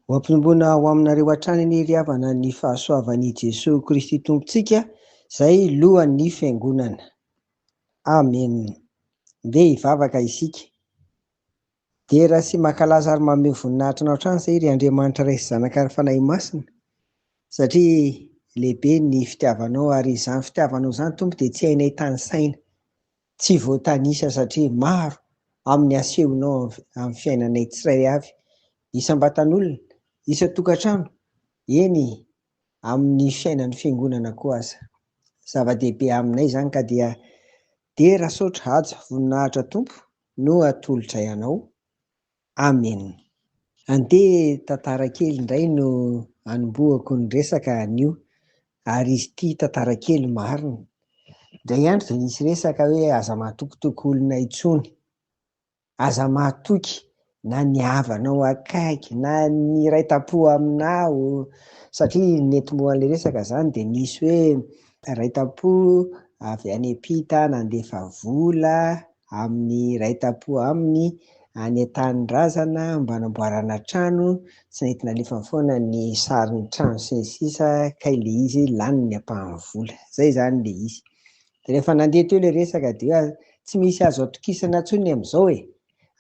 Ho ampinombona ho aminareo hatrany ny ry havana ny fahasoavan'i Jesoa Kristy Tompontsika izay lohan'ny Fiangonana. Amen. Ndeha hivavaka isika. Midera sy mankalaza ary manome voninahitra anao hatrany izay ry Andriamanitra Ray sy Zanaka ary Fanahy Masina, satria lehibe ny fitiavanao, ary izany fitiavanao izany Tompo dia tsy hainay tanisaina, tsy voatanisa satria maro amin'ny asehonao amin'ny fiainanay tsirairay avy, isam-batan'olona, isan-tokantrano, eny amin'ny fiainan'ny fiangonana koa aza. Zava-dehibe aminay izany ka dia dera, saotra, haja, voninahitra Tompo. no atolotray anao. Amen. Andeha tantara kely indray no anombohako ny resaka anio ary izy ity tantara kely marina. Indray andro dia nisy resaka hoe aza mahatokotoko olona intsony. Aza mahatoky na ny havanao akaiky na ny iray tampo aminao satria ny nentim-boan'ilay resaka zany dia nisy hoe iray tampo avy any Epita nandefa vola amin'ny iray tampo aminy any an-tanindrazana mba hanamboarana trano tsy nety nalefany foana ny sarin'ny trano sy ny sisa kay le izy lany ny ampahan'ny vola zay zany le izy dia rehefa nandeha teo le resaka dia tsy misy azo atokisana tsony amin'izao e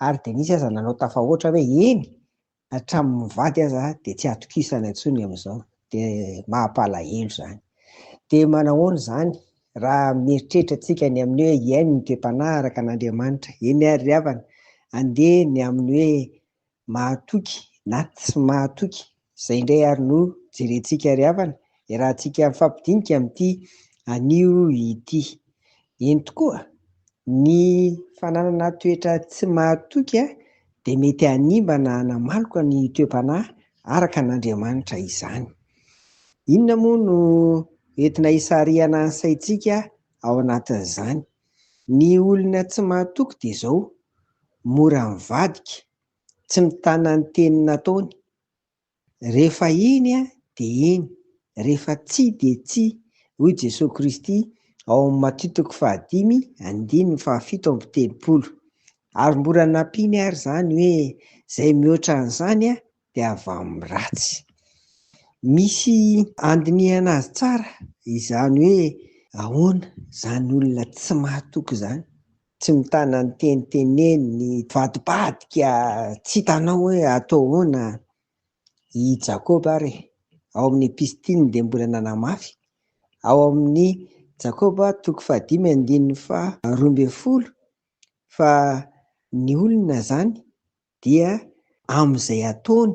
Ary Denise aza nanao tafahoatra hoe eny, hatramin'ny mivady aza dia tsy atokisana intsony amin'izao. Dia mampalahelo izany. Dia manahoana izany raha mieritreritra antsika ny amin'ny hoe hiaino ny toe-panahy araka an'Andriamanitra. Eny ary ry havana, andeha ny amin'ny hoe mahatoky na tsy mahatoky Izay indray ary no jerentsika ry havana, iarahantsika mifampidinika amin'ity anio ity. Eny tokoa, ny fananana toetra tsy mahatoky dia mety hanimba na hanamaloka ny toe-panahy araka an'Andriamanitra izany. Inona moa no entina hisarihana ny saintsika ao anatin'izany? Ny olona tsy mahatoky dia izao, mora mivadika, Tsy mitana ny teny nataony. Rehefa iny dia iny, rehefa tsia dia tsia, hoy Jesoa Kristy ao amin'ny Matio toko fahadimy andininy fahafito amby telopolo. Ary mbola nampiany ary izany hoe izay mihoatra an'izany dia avy amin'ny ratsy. Misy andinihana azy tsara izany hoe ahoana izany olona tsy mahatoky izany. Tsy mitana ny teny teneniny, vadibadika, tsy hitanao hoe atao ahoana i Jakoba ary e! ao amin'ny epistiliny dia mbola nanamafy, ao amin'ny Jakoba toko fahadimy andininy faharoa ambin'ny folo, fa ny olona izany dia amin'izay ataony,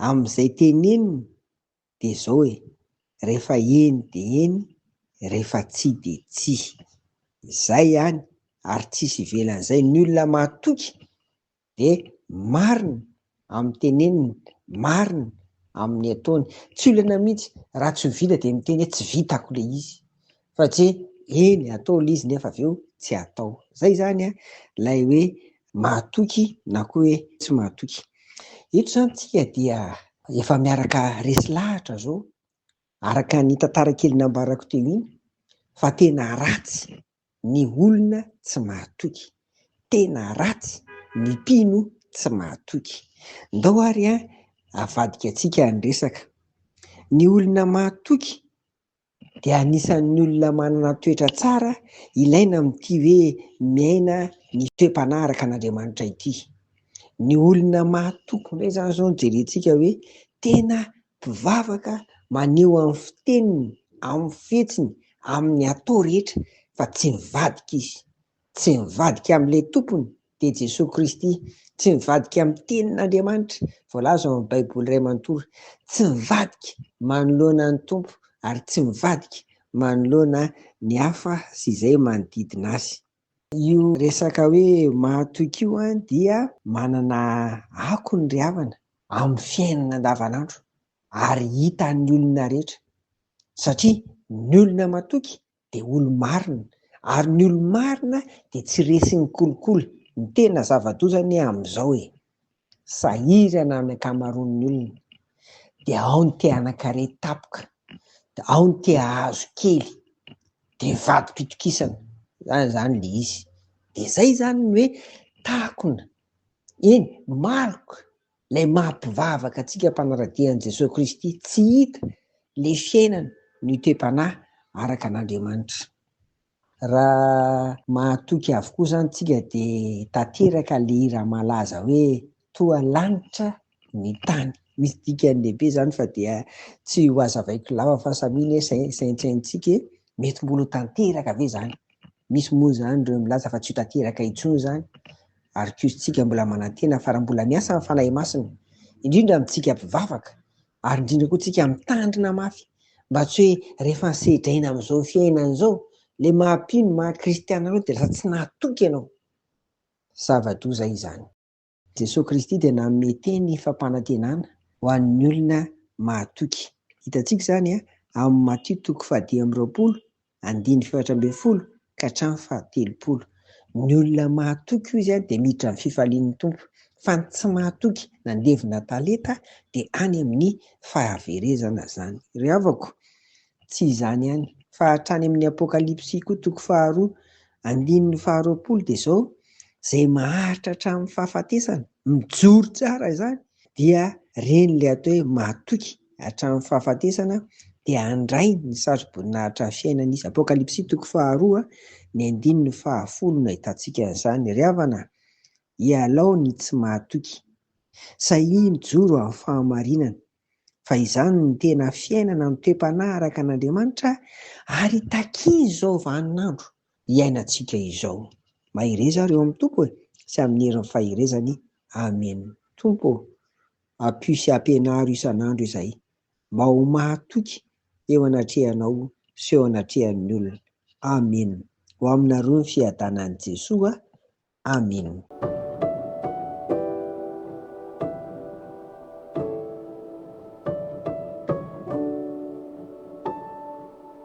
amin'izay teneniny de zao e, refa eny de eny, refa tsia de tsia. Zay ihany ary tsisy ivelan'izay, ny olona mahatoky de marina amin'ny teneniny, marina amin'ny ataony. Tsy olana mihitsy, raha tsy ho vita de miteny hoe tsy vitako le izy, Fa tsy hoe eny atao ilay izy nefa avy eo tsy atao. Izay izany ilay hoe mahatoky na koa hoe tsy mahatoky. Eto izany isika dia efa miaraka resy lahatra izao, araka ny tantara kely nambarako teo iny, fa tena ratsy ny olona tsy mahatoky, tena ratsy ny mpino tsy mahatoky. Ndao ary avadika antsika ny resaka. Ny olona mahatoky dia anisan'ny olona manana toetra tsara ilaina amin'ity hoe miaina ny toe-panahy araka an'Andriamanitra ity. Ny olona mahatoky indray izany izao no jerentsika hoe tena mpivavaka maneho amin'ny fiteniny, amin'ny fihetsiny, amin'ny atao rehetra fa tsy mivadika izy. Tsy mivadika amin'ilay tompony dia Jesoa Kristy. Tsy mivadika amin'ny Tenin'Andriamanitra voalaza ao amin'ny Baiboly iray manontolo. Tsy mivadika manoloana ny Tompo ary tsy mivadika manoloana ny hafa sy izay manodidina azy. Io resaka hoe mahatoky io dia manana akony ry havana amin'ny fiainana andavanandro ary hitan'ny olona rehetra satria ny olona matoky dia olo-marina, ary ny olo-marina dia tsy resin'ny kolikoly, ny tena zava-doza anie amin'izao e! sahirana ny ankamaroan'ny olona, dia ao ny te hanan-kare tapoka, ao ny te hahazo kely, dia vatom-pitokisana, zany zany le izy, dia zay zany ny hoe takona, eny maloka, Ilay maha mpivavaka antsika mpanara-dia an'i Jesoa Kristy tsy hita ilay fiainana niotem-panahy araka an'Andriamanitra. Raha mahatoky avokoa izany tsika dia tanteraka ilay hira malaza hoe toa lanitra ny tany. Misy dikany lehibe izany fa dia tsy ho azavaiko lava fa samia anie saintsaintsika e, mety mbola ho tanteraka ve izany? Misy moa izany ireo milaza fa tsy ho tanteraka intsony izany ary koa isika mbola manantena fa raha mbola miasa ny Fanahy Masina, indrindra amintsika mpivavaka, ary indrindra koa tsika mitandrina mafy, mba tsy hoe rehefa sedraina amin'izao fiainana izao, ilay maha-mpino, maha-kristiana anao dia lasa tsy nahatoky ianao. Zava-doza izany. Jesoa Kristy dia nanome teny fampanantenana ho an'ny olona mahatoky. Hitantsika izany amin'ny Matio toko fahadimy amby roapolo andininy fahefatra ambin'ny folo ka hatramin'ny fahatelopolo. Ny olona mahatoky hoy izy dia miditra amin'ny fifalian'ny Tompo, fa ny tsy mahatoky nandevona talenta dia any amin'ny fahaverezana izany. Ry havako, tsy izany ihany, fa hatrany amin'ny Apokalypsy koa toko faharoa, andininy faharoapolo dia izao, Izay maharitra hatramin'ny fahafatesana, mijoro tsara izany, dia ren'ilay atao hoe mahatoky hatramin'ny fahafatesana dia handray ny saroboninahitra fiainana izy. Apokalypsy toko faharoa ny andininy fahafolo no ahitantsika an'izany. Ry havana, ialao ny tsy mahatoky. Sahia mijoro amin'ny fahamarinana, fa izany no tena fiainana mitoe-panahy araka an'Andriamanitra ary takia izao vaninandro iainantsika izao. Mahereza ary eo amin'ny Tompo e, sy amin'ny herin'ny faherezany. Amena. Tompo ô, Ampio sy ampianaro isan'andro izay mba ho mahatoky eo anatrehanao sy eo anatrehan'ny olona. Amen. Ho aminareo ny fiadanan'i Jesoa. Amen.